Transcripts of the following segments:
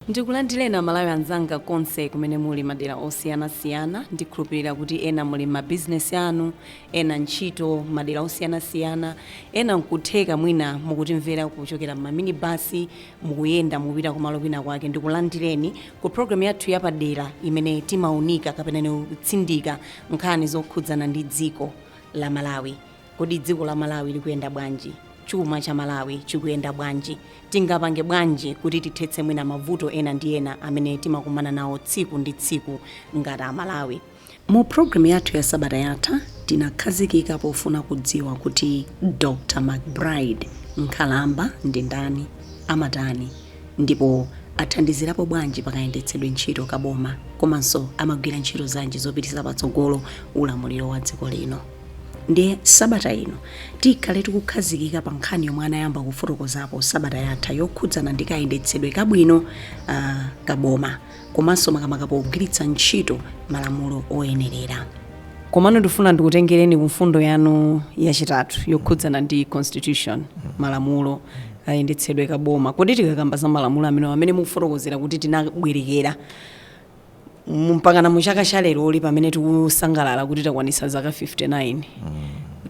Ndikulandireni Amalawi anzanga konse kumene muli madera osiyanasiyana. Ndikhulupirira kuti ena muli m'mabizinesi anu, ena ntchito madera osiyanasiyana, ena nkutheka mwina mukutimvera kuchokera m'maminibasi, mukuyenda mukupita kumalo kwina kwake ndikulandireni ku program yathu yapadera imene timaunika kapenanso kutsindika nkhani zokhudzana ndi dziko la malawi kodi dziko la malawi likuyenda bwanji chuma cha malawi chikuyenda bwanji tingapange bwanji kuti tithetse mwina mavuto ena ndi ena amene timakumana nawo tsiku ndi tsiku ngati amalawi Mu programu yathu ya sabata yatha, tinakhazikika pofuna kudziwa kuti Dr. McBride Nkhalamba ndi ndani, amatani, ndipo athandizirapo bwanji pa kayendetsedwe ntchito ka boma komanso amagwira ntchito zanji zopitisa patsogolo ulamuliro wa dziko lino. Ndiye sabata ino tikhale tikukhazikika pa nkhani yomwe anayamba kufotokozapo sabata yatha yokhudzana ndi kayendetsedwe kabwino ka boma. komanso makamaka pogwiritsa ntchito malamulo oyenerera. Komano ndifuna ndikutengereni ku mfundo yanu yachitatu yokhudzana ndi constitution, malamulo, kayendetsedwe ka boma. Kodi tikakamba za malamulo amenewa amene mukufotokozera kuti tinabwerekera mu- mpakana mu chaka cha leroli pamene tikusangalala kuti takwanitsa zaka 59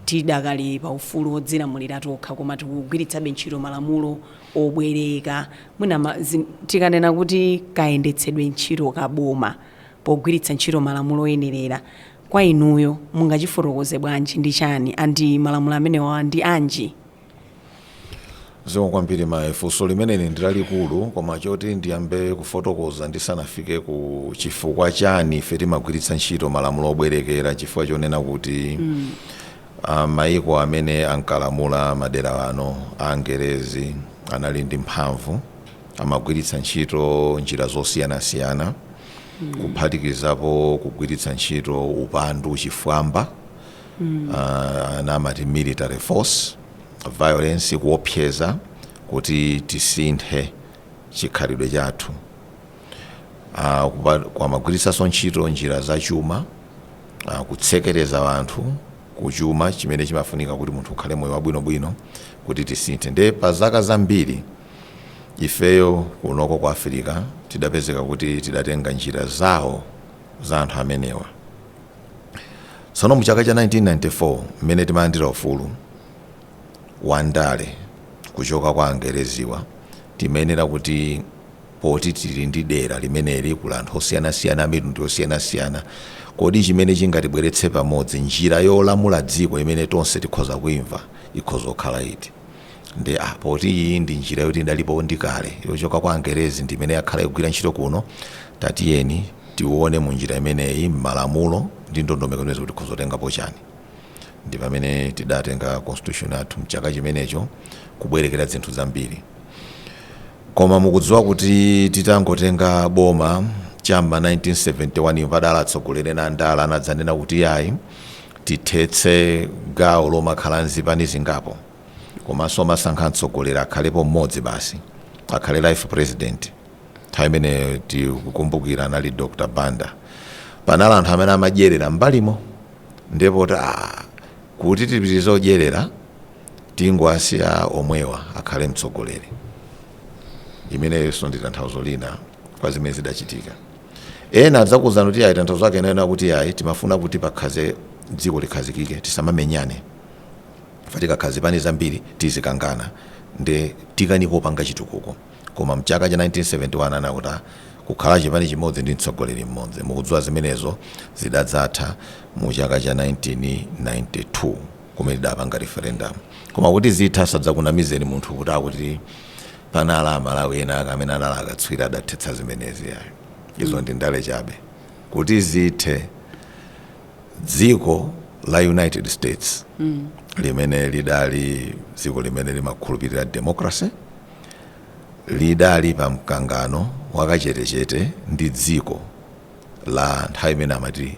tidakali pa ufulu wodzilamulira tokha koma tikugwiritsabe ntchito malamulo obwereka, mwina ma, zi, tikanena kuti kayendetsedwe ntchito ka boma pogwiritsa ntchito malamulo oyenerera, kwa inuyo mungachifotokoze bwanji, ndi chani and malamulo amenewa ndi anji? Zikomo kwambiri mayi. Funso limeneli ndi lalikulu koma choti ndiyambe kufotokoza ndisanafike ku chifukwa chani ife timagwiritsa ntchito malamulo obwerekera nchifukwa chonena kuti a Mayiko amene ankalamula madera ano a Angelezi anali ndi mphamvu, amagwiritsa ntchito njira zosiyanasiyana kuphatikizapo kugwiritsa ntchito upandu, chifwamba, a, ena amati military force, violence, kuopseza kuti tisinthe chikhalidwe chathu. Ah, kupa- amagwiritsanso ntchito njira za chuma ah, kutsekereza anthu ku chuma chimene chimafunika kuti munthu ukhale moyo wabwinobwino kuti tisinthe nde pa zaka zambiri ifeyo kunoko ku Africa tidapezeka kuti tidatenga njira zawo za anthu amenewa tsono mu chaka cha 1994 mmene timalandira ufulu wa ndale kuchoka kwa angereziwa timayenera kuti Poti tili ndi dera limeneli, kuli anthu osiyanasiyana, amitundu yosiyanasiyana, kodi chimene chingatibweretse pamodzi, njira yolamula dziko imene tonse tikhoza kuimva ikhoza kukhala iti? Ndiye ah, poti iyi ndi njira yoti idalipo ndi kale, yochoka kwa Angerezi ndi imene yakhala ikugwira ntchito kuno, tatiyeni tione mu njira imeneyi, m'malamulo ndi ndondomeko zimenezi kuti tikhoza kutengapo chani. Ndi pamene tidatenga Constitution yathu m'chaka chimenecho, kubwerekera zinthu zambiri. koma mukudziwa kuti titangotenga boma cham'ma 1971 mwadala atsogoleri ena andala anadzanena kuti yayi tithetse gawo lomakhala ndi zipani zingapo komanso kumasankha mtsogoleri akhalepo mmodzi basi akhale life president nthawi imene tikukumbukira anali dr banda panali anthu amene amadyerera mbalimo ndipo kuti ah, kuti tipitirize kudyerera Tingowasiya omwewa akhale mtsogoleri. Imeneyonso ndi tanthauzo lina kwa zimene zidachitika. Ena adzakuuzani kuti iyayi tanthauzo lake linayenera kuti iyayi timafuna kuti pakhaze dziko likhazikike tisamamenyane chifukwa tikakhala zipani zambiri tizikangana ndiye tikanika kupanga chitukuko. Koma mchaka cha 1971 ananena kuti kukhala chipani chimodzi ndi mtsogoleri mmodzi. Mukudziwa zimenezo zidadzatha mu chaka cha 1992. kumene tidapanga referendum koma kuti zithe asadzakunamizeni munthu kuti akuti panali amalawi ena ake amene anali akatswiri adathetsa zimenezi ayi izo ndi ndale chabe kuti zithe dziko la united states mm. limene lidali dziko limene limakhulupirira democracy lidali pa mkangano wakachetechete ndi dziko la nthawi imene amati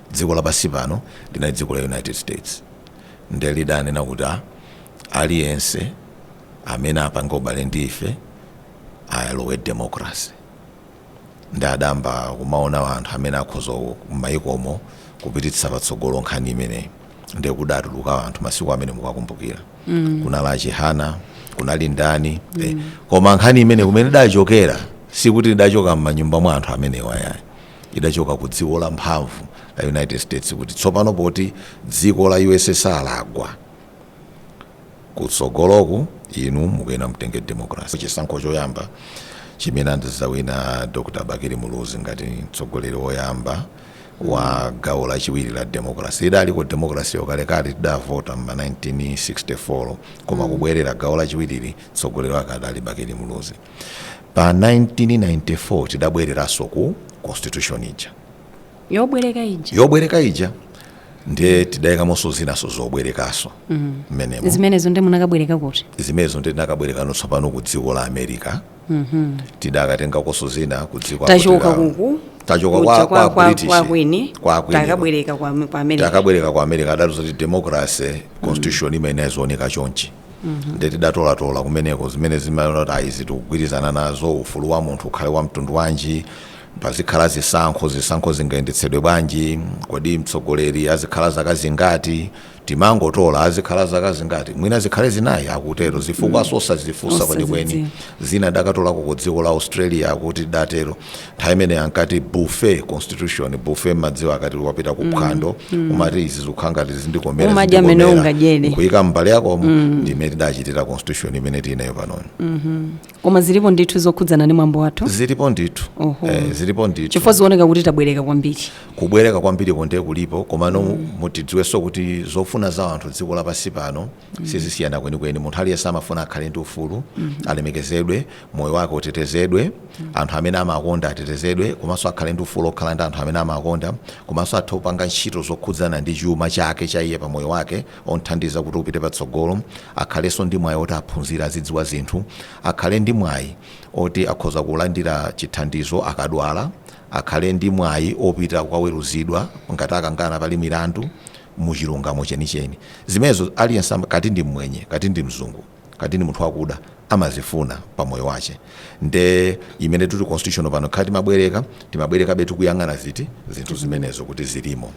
Dziko lapansi pano linali dziko la United States nde lidanena kuti a aliyense amene apange ubale ndi ife alowe democracy nde adayamba kumaona anthu amene akhoza ku- m'mayikomo kupititsa patsogolo nkhani imeneyi nde kudatuluka anthu masiku amene mukuwakumbukira kunali achihana kunali ndani eh, koma nkhani imene kumene idachokera sikuti idachoka m'manyumba mwa anthu amenewa yayi idachoka ku dziko la mphamvu la United States kuti tsopano poti dziko la USSR lagwa, kutsogoloku inu mukuyenera mtenge democracy. Chisankho choyamba chimene anadzawina Dr. Bakili Muluzi ngati mtsogoleri woyamba wa gawo lachiwiri la democracy idaliko democracy yakalekale tidavota mma 1964 koma kubwerera gawo lachiwiriri mtsogoleri wake adali Bakili Muluzi. pa 1994 tidabwereranso ku constitution ija yobwereka ija ndiye tidayikamonso zinanso zobwerekaso mmenemo zimenezo ndiye tinakabwerekano tsopano ku dziko la america tidakatengakonso zina ku dziko la- tachoka kuja kwa British, kwa kwini. takabwereka ku america adatiuza kuti democracy constitution imayenera izioneka chonchi mhm. nde tidatolatola kumeneko zimene timaona kuti ayi izi tikugwirizana nazo ufulu wa munthu ukhale wa mtundu wanji pazikhala zisankho zisankho zingayendetsedwe bwanji kodi mtsogoleri azikhala zaka zingati timangotola azikhala zaka zingati mwina zikhale zinayi akutero zifukwa mm. zosazifunsa kwenikweni zina tidakatolako ku dziko la australia akuti idatero nthawi imene ija ankati bufe constitution bufe mmadziwa akati wapita ku phwando umati izi zikukhala ngati zindikomera Umadya mmene ungadyere. nkuyika m'mbale yakomo ndi imene tidachitira constitution imene tili nayo panoyo koma zilipo ndithu zokhudzana ndi mwambo wathu zilipo ndithu Oho. eh, zilipo ndithu chifukwa zioneka kuti tabwereka kwambiri kubwereka kwambiri kunde kulipo komano muzidziwanso kuti zofuna za anthu dziko lapansi pano sizisiyana kwenikweni munthu aliyense amafuna akhale ndi ufulu alemekezedwe moyo wake utetezedwe anthu amene amakonda atetezedwe komanso akhale ndi ufulu okhala ndi anthu amene amakonda komanso athe kupanga ntchito zokhudzana ndi chuma chake cha iye pa moyo wake omthandiza kuti upite patsogolo akhalenso ndi mwayi oti aphunzire azidziwa zinthu akhale ndi mwayi oti akhoza kulandira chithandizo akadwala akhale ndi mwayi opita kukaweruzidwa ngati akangana pali milandu mu chilungamo chenicheni. Zimenezo aliyense kaya ndi mmwenye, kaya ndi mzungu, kaya ndi munthu wakuda, amazifuna pa moyo wake. Nde imene tikuti constitution pano ngakhale timabwereka, timabwerekabe tikuyang'ana ziti, zinthu zimenezo kuti zilimo.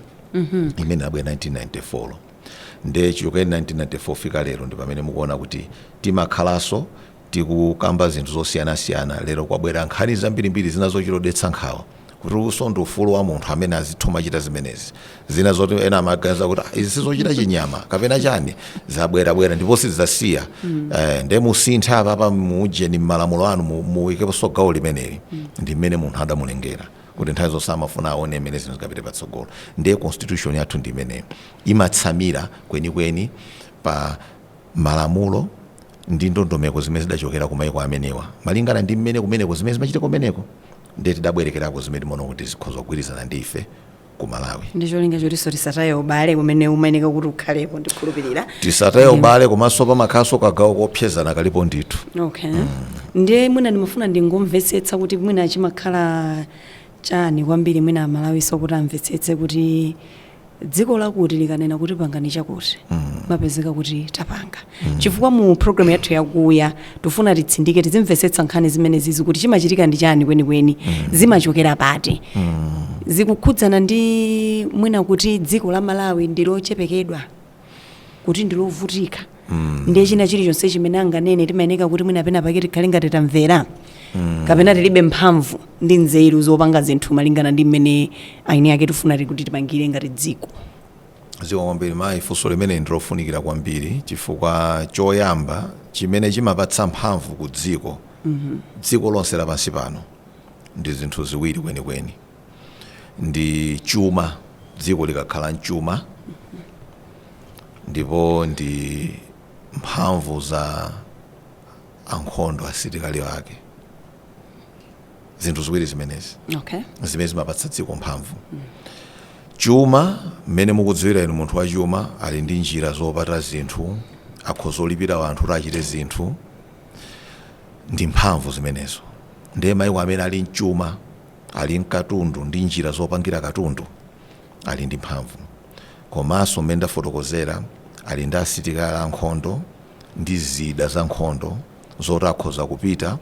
Imene inabwera 1994 yo. Nde chichokere 1994 kufika lero ndi pamene mukuona kuti timakhalaso, Tikukamba zinthu zosiyanasiyana, lero kwabwera nkhani zambirimbiri zina zochita odetsa nkhawa kuti uwunso ndi ufulu wa munthu amene azitha kumachita zimenezi. Zina zoti ena amaganiza kuti ah, izi sizochita chinyama kapena chani zabwerabwera ndipo sizidzasiya eh, nde musintha apapa muujeni m'malamulo anu mu- muikeponso gawo limeneli ndi mmene munthu adamulengera kuti nthawi zonse amafuna aone mmene zinthu zingapite patsogolo ndiye constitution yathu ndi imeneyo imatsamira kwenikweni pa malamulo ndi ndondomeko zimene zidachokera ku maiko amenewa malingana ndi mmene kumeneko zimene zimachitika kumeneko ndiye tidabwerekako zimene timaona kuti zikhoza kugwirizana ndi ife ku malawi ndi cholinga chotinso tisataye ubale umene umayenereka kuti ukhalepo ndikhulupirira tisataye ubale komanso pamakhalanso kagawo kopsezana kalipo ndithu okay ndiye mwina ndimafuna ndingomvetsetsa kuti mwina chimakhala chani kwambiri mwina amalawiso kuti amvetsetse kuti dziko lakuti likanena kuti pangani chakuti imapezeka kuti tapanga chifukwa mu programu yathu yakuya tifuna titsindike tizimvesetsa nkhani zimenezizi kuti chimachitika ndi chani kwenikweni zimachokera pati zikukhudzana ndi mwina kuti dziko la malawi ndilochepekedwa kuti ndilovutika ndiye china chilichonse chimene anganene timayeneka kuti mwina pena pake tikhale ngati tamvera kapena tilibe mphamvu ndi nzeru zopanga zinthu malingana ndi mmene aini ake tifuna ti- kuti tipangire ngati dziko zikomo kwambiri mayi funso limene ndilofunikira kwambiri chifukwa choyamba chimene chimapatsa mphamvu ku dziko dziko lonse lapansi pano ndi zinthu ziwiri kwenikweni ndi chuma dziko likakhala mchuma ndipo ndi mphamvu za ankhondo asilikali ake zinthu ziwiri zimenezi okay zimene zimapatsa dziko mphamvu chuma mmene mukudziwira inu munthu wachuma ali ndi njira zopata zinthu akhoza kulipira anthu kuti achite zinthu ndi mphamvu zimenezo ndiye maiko amene ali mchuma ali nkatundu ndi njira zopangira katundu ali ndi mphamvu komanso mmene ndafotokozera ali ndi asilikali ankhondo ndi zida za nkhondo zoti akhoza kupita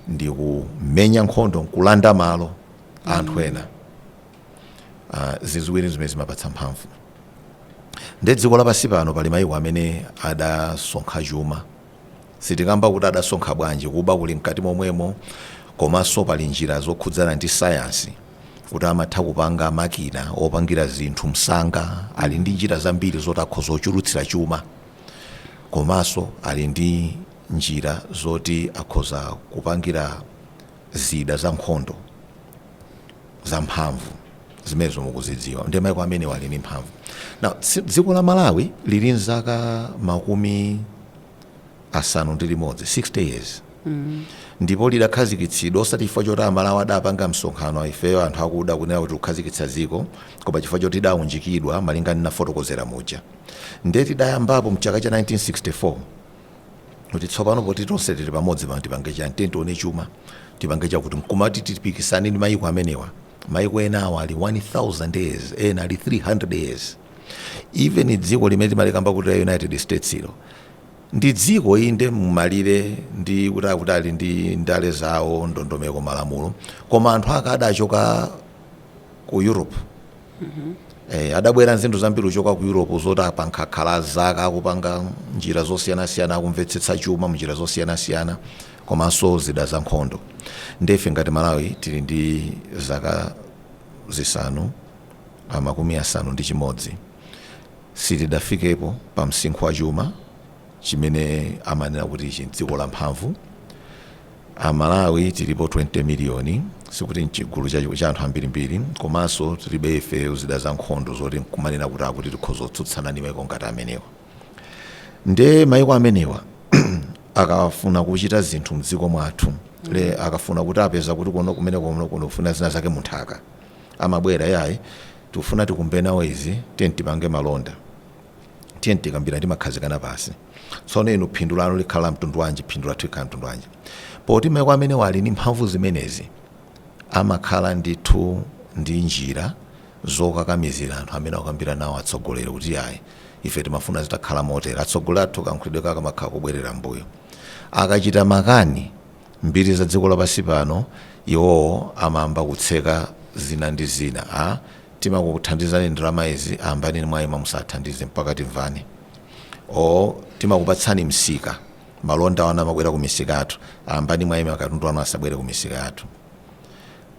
ndi kumenya nkhondo nkulanda malo a anthu ena Ah, zinthu ziwiri zimene zimapatsa mphamvu ndi dziko lapansi pano pali mayiko amene adasonkha chuma Sitikamba kuti adasonkha bwanji, kuba kuli mkati momwemo komanso pali njira zokhudzana ndi sayansi kuti amatha kupanga makina opangira zinthu msanga, ali ndi njira zambiri zoti akhoza kuchulutsira chuma komanso ali ndi njira zoti akhoza kupangira. zida zankhondo zamphamvu zimenezo mukuzidziwa ndiye maiko amenewa ali ndi mphamvu now tsi- dziko la malawi lili nzaka makumi asanu ndi limodzi 60 years ndipo lidakhazikitsidwa osati chifukwa choti amalawi adapanga msonkhano ifeyo anthu akuda kunena kuti tikukhazikitsa dziko koma chifukwa choti tidaunjikidwa malinga ndi nafotokozera muja nde tidayambapo mchaka cha 1964 kuti tsopano poti tonse tili pamodzi pano tipange chani tiye tione chuma tipange chakuti mkumati tipikisane ndi mayiko amenewa mayiko ena awa ali 1000 years ena ali 300 years even dziko limene timalikamba kuti la united states ilo ndi dziko inde mumalire ndi kuti akuti ali ndi ndale zawo ndondomeko malamulo koma anthu ake adachoka ku europe Eh, adabwera nzinthu zambiri kuchoka ku europe zoti apa akhala zaka akupanga njira zosiyanasiyana akumvetsetsa chuma munjira zosiyanasiyana komanso zida za nkhondo nde ife ngati malawi tili ndi zaka zisanu ah, makumi asanu ndi chimodzi sitidafikepo pa msinkhu wa chuma chimene amanena kuti ichi mdziko la mphamvu a Malawi tilipo 20 million sikuti nchigulu cha cha anthu ambirimbiri komanso tilibe ife zida za nkhondo zoti nkumanena kuti akuti tikhoza kutsutsana ndi maiko ngati amenewa nde maiko amenewa akafuna kuchita zinthu mdziko mwathu le akafuna kuti apeza kuti kuno kumene kuno kuno kufuna zina zake munthaka amabwera ayi tikufuna tikumbe nawo izi tiye tipange malonda tiyeni tikambirane timakhazikana pansi tsono inu phindu lanu likhala la mtundu wanji phindu lathu likhala mtundu wanji poti maiko amenewa ali ndi mphamvu zimenezi amakhala ndithu ndi njira zokakamizira anthu amene akukambira nawo atsogoleri kuti yayi ife timafuna zitakhala motera atsogoleri athu kayankhulidwe kake amakhala kubwerera mbuyo akachita makani mbiri za dziko lapansi pano iwowo amayamba kutseka zina ndi zina a timakuthandizani ndalama izi ndiye mwayima musathandize mpaka timvane or timakupatsani msika malonda anu amabwera ku misika yathu ndiye mwayima katundu wanu asabwere ku misika yathu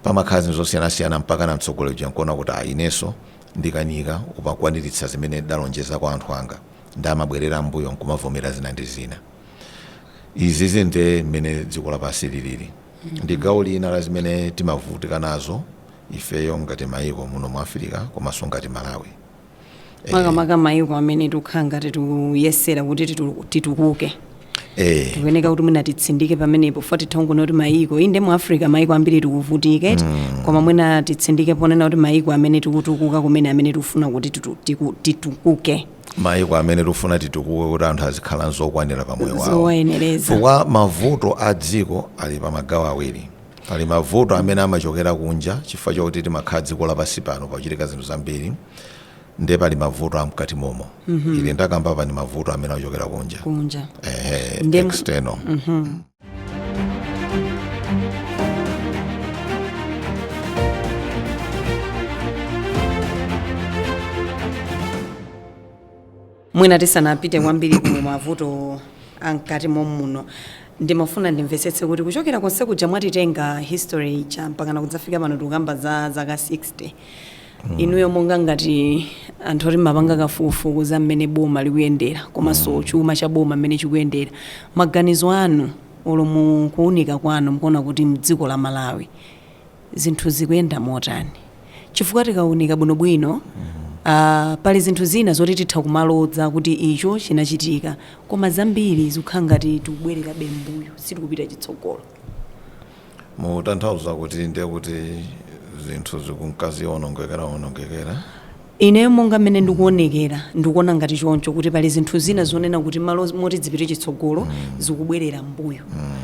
pamakhala zinthu zosiyanasiyana mpaka na mtsogoleri uja nkuona kuti ah, inenso ndikanika kukwaniritsa zimene ndalonjeza kwa anthu anga nde amabwerera mbuyo nkumavomera zina ndi zina izizi nde mmene dziko lapansi lilili ndi gawo lina la zimene timavutika nazo ifeyo ngati maiko muno mu africa komanso ngati Malawi. makamaka maiko amene tikukhala ngati tikuyesera kuti titu- titukuke Eh, tikuyeneka kuti mwina titsindike pamenepo futi titha kungonena kuti maiko inde mu africa maiko ambiri tikuvutika eti koma mwina titsindike ponena kuti maiko amene tikutukuka kumene amene tikufuna kuti titu- tiku- titukuke maiko amene tifuna titukuke kuti anthu azikhala nzokwanira pa moyo wawo zowayenereza chifukwa mavuto a dziko ali pa magawo awiri pali mavuto amene amachokera kunja chifukwa chakuti timakhala dziko lapansi pano pakuchitika zinthu zambiri nde pali mavuto amkati momo ili ndakamba apa ndi mavuto amene amachokera kunja kunja ehe Ndem- external mwina tisanapite kwambiri ku mavuto amkati mommuno ndimafuna ndimvetsetse kuti kuchokera konse kuja mwatitenga history cha mpakana kudzafika pano tikukamba za zaka 60 Inuyo monga ngati anthu oti mmapanga kafukufuku za mmene boma likuyendera komanso chuma cha boma mmene chikuyendera, maganizo anu olo mu kuunika kwanu mukuona kuti mdziko la Malawi zinthu zikuyenda motani? Chifukwa tikaunika bwinobwino pali zinthu zina zoti titha kumaloza kuti icho chinachitika koma zambiri zikukhala ngati tikubwererabe mmbuyo sitikupita chitsogolo. Mutanthauza kuti ndiye kuti zinthu zikunka zionongekeraonongekera? Ineyo monga mmene ndikuonekera ndikuona ngati choncho kuti pali zinthu zina zonena kuti malo moti dzipite chitsogolo zikubwerera mbuyo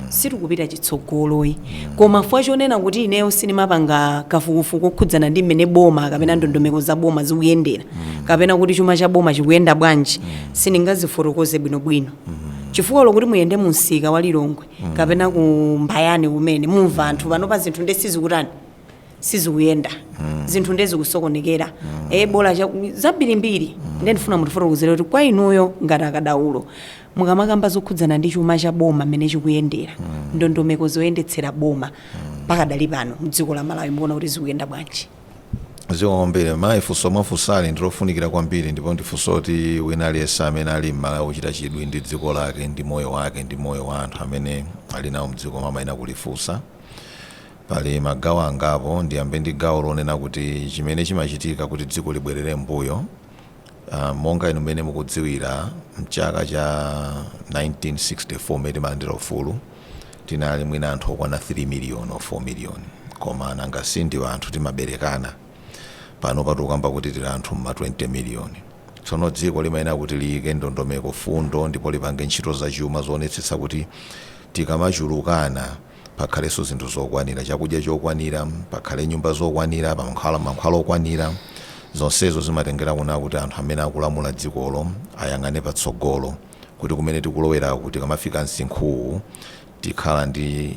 sitikupita chitsogolo ayi koma fukwa chonena kuti ineyo sindimapanga kafukufuku okhudzana ndi mmene boma kapena ndondomeko za boma zikuyendera kapena kuti chuma cha boma chikuyenda bwanji sindingazifotokoze bwinobwino chifukwa olo kuti muyende mu msika wa Lilongwe kapena ku mbayani kumene mumva anthu panopa zinthu nde sizikutani sizikuyenda zinthu nde zikusokonekera e bola cha- zambirimbiri nde ndifuna mutifotokozere kuti kwa inuyo ngati akadaulo mukamakamba zokhudzana ndi chuma cha boma mmene chikuyendera ndondomeko zoyendetsera boma pakadali pano mdziko la malawi mukuona kuti zikuyenda bwanji Zikomo kwambiri mayi, funso mwafunsali ndi lofunikira kwambiri ndipo ndi funso loti wina aliyense amene ali m'Malawi wochita chidwi ndi dziko lake ndi moyo wake ndi moyo wa anthu amene ali nawo m'dzikomo amayenera kulifunsa. Pali magawo angapo, ndiyambe ndi gawo lonena kuti chimene chimachitika kuti dziko libwerere m'mbuyo. Monga inu mmene mukudziwira, m'chaka cha 1964 mmene timalandira ufulu, tinali mwina anthu okwana 3 miliyoni or 4 miliyoni. Koma nanga si ndi anthu timaberekana? Panopa tikukamba kuti tili anthu m'ma 20 miliyoni. Tsono dziko limayenera kuti liyike ndondomeko, fundo ndipo lipange ntchito zachuma zoonetsetsa kuti tikamachulukana, pakhalenso zinthu zokwanira, chakudya chokwanira, pakhale nyumba zokwanira, pakhale mankhwala okwanira. Zonsezo zimatengera kunena kuti anthu amene akulamula dzikolo ayang'ane patsogolo kuti kumene tikuloweraku tikamafika msinkhu uwu tikhala ndi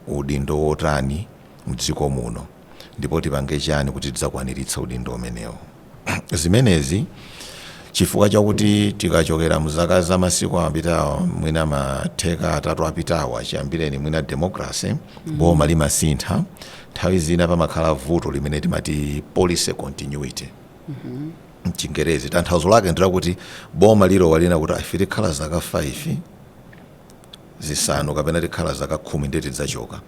udindo wotani mdziko muno ndipo tipange chani kuti tidzakwaniritse udindo umenewo. Zimenezi chifukwa chakuti tikachokera mzaka za masiku apitawa mwina mateka atatu apitawa chiyambireni mwina democracy mm -hmm. boma limasintha nthawi zina pamakhala vuto limene timati policy continuity mm -hmm mchingerezi tanthauzo lake ndi lakuti boma lilowa linena kuti ife tikhala zaka 5 zisanu kapena tikhala zaka khumi ndeti tidzachoka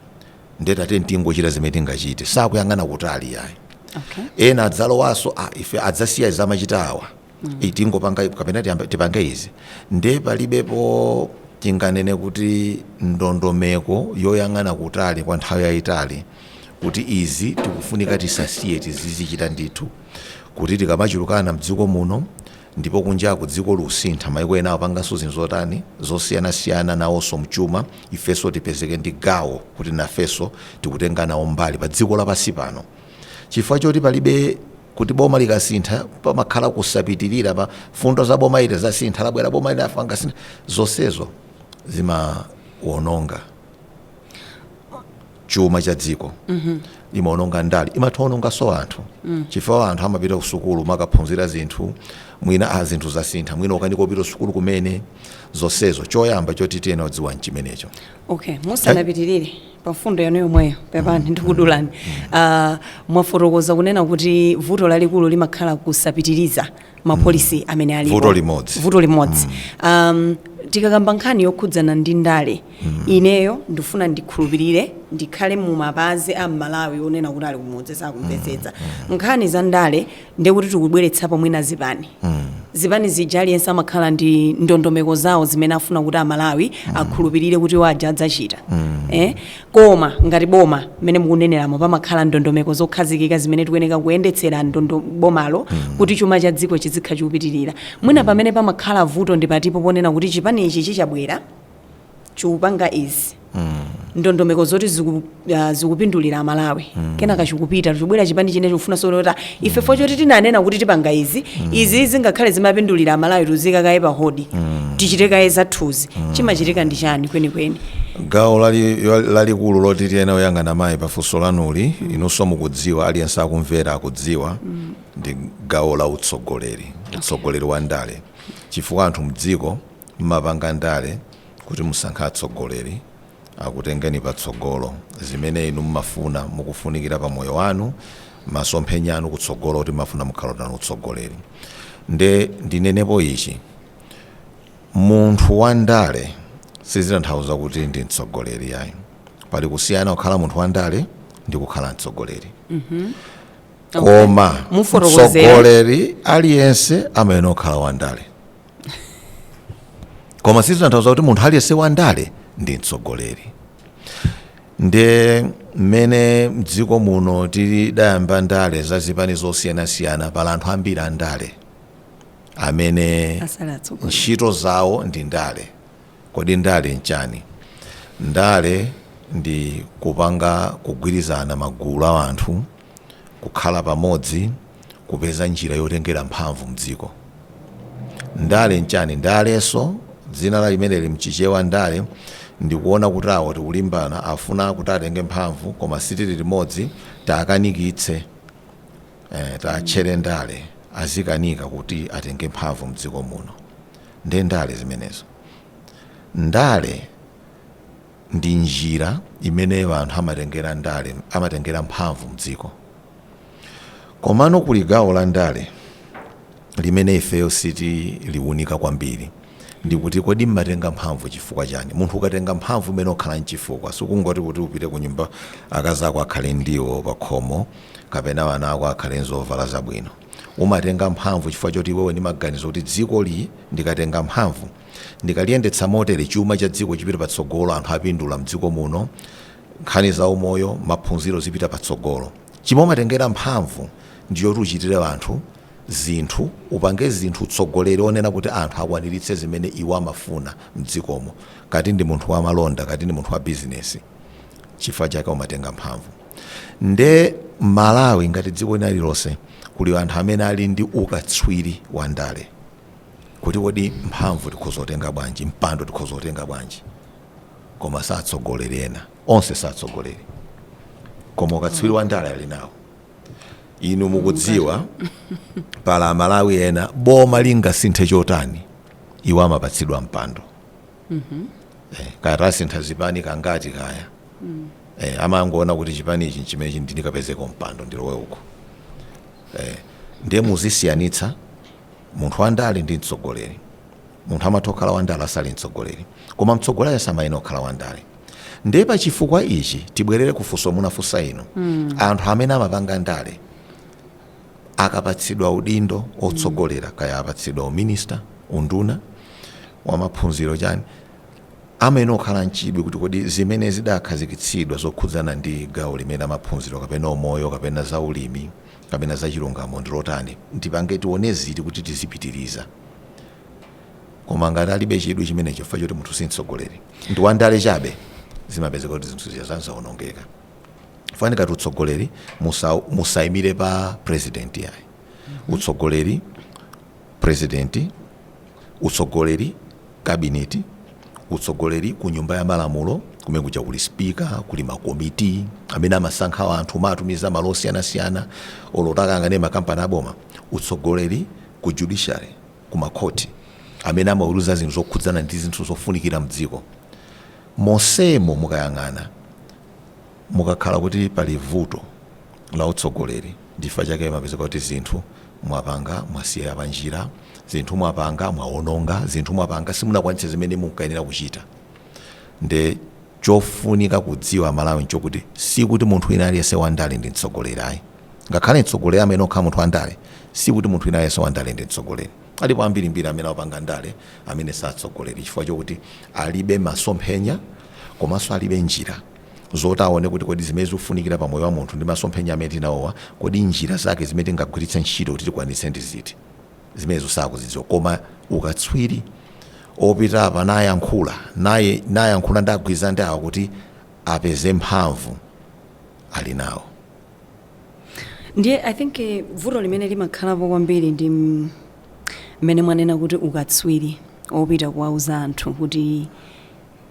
nde tatiyeni tingochita zimene tingachite osayang'ana kutali ayi okay. ena adzalowanso ah, ife tidzasiya zimene amachita awa mm. Eh, tingopanga kapena tiyambe- tipange izi nde palibepo tinganene kuti ndondomeko yoyang'ana kutali kwa nthawi yayitali kuti izi tikufunika tisasiye tizizichita ndithu kuti tikamachulukana mdziko muno Ndipo kunjaku dziko likusintha, maiko ena akupanganso zinthu zotani, zosiyanasiyana nawonso mchuma, ifenso tipezeke ndi gawo kuti nafenso tikutenga nawo mbali pa dziko lapansi pano chifukwa choti palibe kuti boma likasintha pamakhala kusapitiriza mfundo za boma ili zasintha labwera boma lina apanga sintha zonsezo zimawononga chuma cha dziko imaononga ndale imatha onongaso anthu chifukwa anthu amapita kusukulu kukaphunzira zinthu mwina a zinthu zasintha mwina akukanika kupita kusukulu kumene zonsezo choyamba choti tiyenera kudziwa nchimenecho okay musanapitirire pa mfundo yanu yomweyo pepani ndikudulani Ah, mwafotokoza kunena kuti vuto lalikulu limakhala kusapitiriza mapolisi amene alipo Vuto limodzi. vuto limodzi um, tikakamba nkhani yokhudzana ndi ndale Ineyo ndifuna ndikhulupilire ndikhale mumapazi a m'Malawi onena kuti ali kumudzi sakumvetsetsa. Nkhani za ndale ndiye kuti tikubweretsapo mwina zipani. Zipani zija aliyense amakhala ndi ndondomeko zawo zimene afuna kuti a Malawi akhulupilire kuti iwo aja adzachita. Eh? Koma ngati boma mmene mukuneneramo pamakhala ndondomeko zokhazikika zimene tikuyeneka kuyendetsera ndondo bomalo kuti chuma cha dziko chizikhala chikupitilira. Mwina pamene pamakhala vuto ndi pati po ponena kuti chipani ichi chikabwera? chikupanga izi ndondomeko zoti ziku, ah, zikupindulira amalawi kenaka chikupita chikubwera chipani china chikufuna solota ife fo choti tinanena kuti tipanga izi izi zingakhale zimapindulira amalawi tiziika kaye pa hodi tichite kaye zathuzi chimachitika ndi chani kwenikweni gawo lali- yo- lalikulu loti tiyenera kuyang'ana mayi pafunso lanuli inunso mukudziwa aliyense akumvera akudziwa ndi gawo la utsogoleri utsogoleri wa ndale chifukwa anthu mdziko Mumapanga ndale kuti musankhe atsogoleri akutengeni patsogolo. Zimene inu mumafuna, mukufunikira pa moyo wanu, masomphenya anu kutsogolo kuti mumafuna mukhala otani utsogoleri. Nde ndinenepo ichi, munthu wa ndale sizitanthauza kuti ndi mtsogoleri ayi. Pali kusiyana kukhala munthu wa ndale ndi kukhala mtsogoleri. Koma Mufotokozere. mtsogoleri aliyense amayenera kukhala wa ndale. koma sizitanthauza kuti munthu aliyense wandale ndi mtsogoleri nde mmene mdziko muno tidayamba ndale za zipani zosiyanasiyana pali anthu ambiri andale amene asali atsogoleri ntchito zawo ndi ndale kodi ndale nchani ndale ndi kupanga kugwirizana magulu a anthu kukhala pamodzi kupeza njira yotengera mphamvu mdziko. Ndale nchani? Ndalenso dzina la limeneli mchichewa ndale ndikuona kuti awa tikulimbana afuna kuti atenge mphamvu koma sitili limodzi taakanikitse eh, taatchere ndale azikanika kuti atenge mphamvu mdziko muno nde ndale zimenezo ndale ndi njira imene anthu amatengera ndale amatengera mphamvu mdziko komano kuli gawo la ndale limene ifeyo sitiliunika kwambiri ndikuti kodi mmatenga mphamvu chifukwa chani munthu ukatenga mphamvu umayenera ukhale nchifukwa sikungoti kuti upite ku nyumba akazi ako akhale ndiwo pa khomo kapena wana ako akhale nzovala zabwino umatenga mphamvu chifukwa choti iwe uli ndi maganizo kuti dzikoli ndikatenga mphamvu Ndikaliyendetsa motere, chuma cha dziko chipita patsogolo, anthu apindula mdziko muno, nkhani za umoyo, maphunziro zipita patsogolo. Chimene umatengera mphamvu ndi choti uchitire anthu zinthu, upange zinthu, utsogolere kuonetsa kuti anthu akwaniritse zimene iwo amafuna mdzikomo. Kati ndi munthu wa malonda, kati ndi munthu wa bizinesi, chifukwa chake umatenga mphamvu. Nde Malawi ngati dziko lina lililonse kuli anthu amene ali ndi ukatswiri wa ndale. kuti kodi mphamvu tikhoza kutenga bwanji, mpando tikhoza kutenga bwanji, koma si atsogoleri ena, onse si atsogoleri, koma ukatswiri wa ndale ali nawo. Inu mukudziwa pali Amalawi ena boma lingasinthe chotani, iwo amapatsidwa mpando eh, kaya tasintha zipani kangati kaya eh, amangoona kuti chipani ichi nchimenechi ndikapezeko mpando ndilowe uko eh, ndiye muzisiyanitsa Munthu wandale ndi mtsogoleri. Munthu amatha kukhala wandale asali mtsogoleri. Koma mtsogoleriyo samayenera kukhala wandale. Ndiye pa chifukwa ichi tibwerere ku funso munafunsa inu. Anthu amene amapanga ndale akapatsidwa udindo wotsogolera kaya apatsidwa uminista, unduna wa maphunziro chani, amayenera kukhala n'chidwi kuti kodi zimene zidakhazikitsidwa zokhudzana ndi gawo limeneli la maphunziro kapena umoyo kapena zaulimi, kapena za chilungamo ndi lotani? Tipange tione ziti kuti tizipitiliza? Koma ngati alibe chidwi chimenecho chifukwa chokuti munthu si mtsogoleri ndi wandale chabe, zimapezeka kuti zinthu zija za- zaonongeka. Ifunika kuti utsogoleri musa, musaimire pa president yayi. Utsogoleri Prezidenti, utsogoleri, kabineti, utsogoleri ku nyumba ya malamulo, kumene kuja kuli spika, kuli makomiti amene amasankha anthu kumawatumiza malo osiyanasiyana oti akayang'ane makampani aboma, utsogoleri ku judiciary, ku makhoti amene amaweruza zinthu zokhudzana ndi zinthu zofunikira mdziko. Monsemo mukayang'ana, Mumakhala kuti pali vuto la utsogoleri ndi chifukwa chake mumapezeka kuti zinthu mwapanga mwasiyira panjira, zinthu mwapanga mwawononga, zinthu mwapanga simunakwanitse zimene munkayenera kuchita nde chofunika kudziwa Amalawi nchokuti sikuti munthu wina aliyense wandale ndi mtsogoleri ayi ngakhale mtsogoleri amayenera kukhala munthu wandale sikuti munthu wina aliyense wandale ndi mtsogoleri alipo ambirimbiri amene akupanga ndale amene si atsogoleri chifukwa chokuti alibe masomphenya komanso alibe njira. zoti aone kuti kodi zimene zikufunikira pa moyo wa munthu ndi masomphenya amene tili nawowa, kodi njira zake zimene tingagwiritse ntchito kuti tikwanitse ndi ziti. Zimenezo sakuzidziwa. Koma ukatswiri opita apa nayankhula naye nayankhula nagwirizana ndi awa kuti apeze mphamvu ali nawo. ndiye i think eh, vuto limene limakhalapo kwambiri ndi mm, mmene mwanena kuti ukatswiri opita kuwauza anthu kuti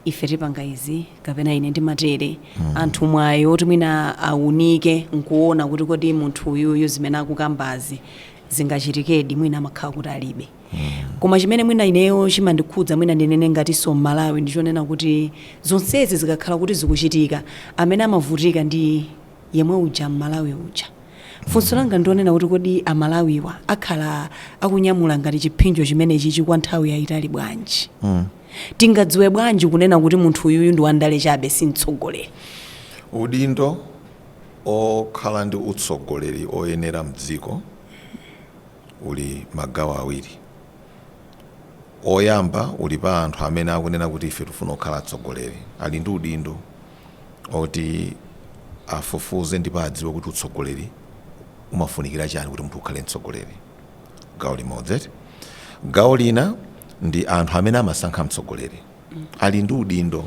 ife tipanga izi kapena ine ndimatere anthu mwayi woti mwina awunike nkuona kuti kodi munthu uyuyu zimene akukambazi zingachitikedi mwina amakhala kuti alibe koma chimene mwina ineyo chimandikhudza mwina ndinene ngatinso mmalawi ndichonena kuti zonsezi zikakhala kuti zikuchitika amene amavutika ndi yemwe uja mmalawi uja funso langa ndionena kuti kodi amalawiwa akhala akunyamula ngati chiphinjo chimenechichi kwa nthawi yayitali bwanji Tingadziwe bwanji kunena kuti munthu uyuyu ndi wandale chabe si mtsogoleri? Udindo okhala ndi utsogoleri oyenera mdziko uli magawo awiri. Oyamba uli pa anthu amene akunena kuti ife tifuna kukhala atsogoleri. Ali ndi udindo oti afufuze ndipo adziwe kuti utsogoleri umafunikira chani kuti munthu ukhale mtsogoleri. gawo limodzi eti gawo lina ndi anthu amene amasankha mtsogoleri ali ndi udindo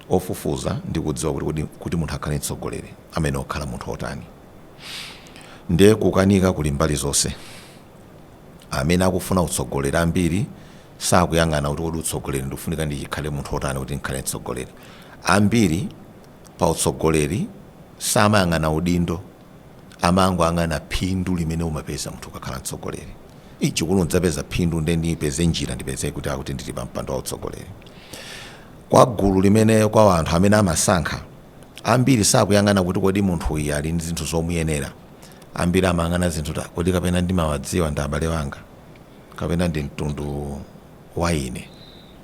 ofufuza ndi kudziwa kuti kodi- kuti munthu akhale mtsogoleri amayenera kukhala munthu otani ndiye kukanika kuli mbali zonse amene akufuna utsogoleri ambiri sakuyang'ana kuti kodi utsogoleri ukufunika ndikhale munthu otani kuti ndikhale mtsogoleri ambiri pa utsogoleri samayang'ana udindo amangoyang'ana phindu limene umapeza munthu ukakhala mtsogoleri ichi kuti ndidzapeza phindu nde ndipeze njira ndipeze kutikuti ndili pa mpando wa utsogoleri kwa gulu limene kwa anthu amene amasankha ambiri sakuyang'ana kuti kodi munthu uyu ali ndi zinthu zomuyenera ambiri amayang'ana zinthu zoti kodi kapena ndimawadziwa ndi abale wanga kapena ndi mtundu wa ine.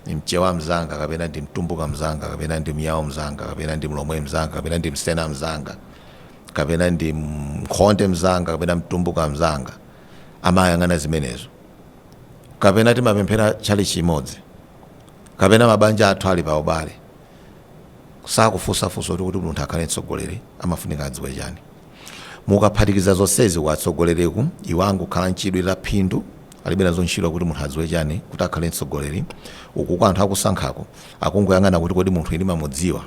Mchewa mzanga kapena ndi Mtumbuka mzanga kapena ndi Myao mzanga kapena ndi Mlomwe mzanga kapena ndi Msena mzanga kapena ndi Mkhonde mzanga kapena Mtumbuka mzanga amayang'ana zimenezo, kapena timapemphera tchalitchi chimodzi kapena mabanja athu ali pa ubale, sakufunsa funso loti kuti munthu akhale mtsogoleri amafunika adziwe chani. Mukaphatikiza zonsezi ku atsogoleriku iwo angokhala nchidwi cha phindu Alibe nazo ntchito kuti munthu adziwe chani kuti akhale mtsogoleri, uku kwa anthu akusankhako akungoyang'ana kuti kodi munthuyi ndimamudziwa?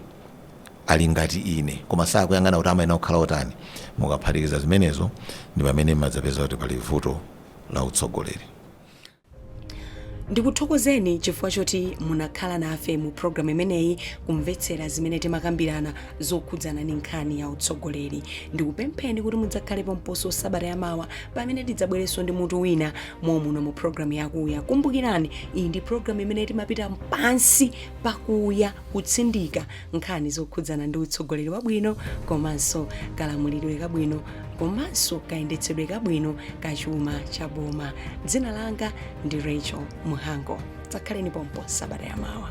Ali ngati ine? Koma sakuyang'ana kuti amayenera kukhala otani? Mukaphatikiza zimenezo ndi pamene mmadzapeza kuti pali vuto la utsogoleri. Ndikuthokozeni chifukwa choti munakhala nafe mu programu imeneyi kumvetsera zimene timakambirana. zokhudzana ndi nkhani ya utsogoleri. Ndikupempheni kuti mudzakhale pomposo sabata yamawa pamene tidzabwerenso ndi mutu wina momuno mu programu yakuya. Kumbukirani, iyi ndi programu imene timapita pansi pakuya kutsindika nkhani zokhudzana ndi utsogoleri wabwino komanso kalamulidwe kabwino komanso kayendetsedwe kabwino ka chuma cha boma. Dzina langa ndi Rachel Muhango. Dzakhaleni pompo sabata yamawa.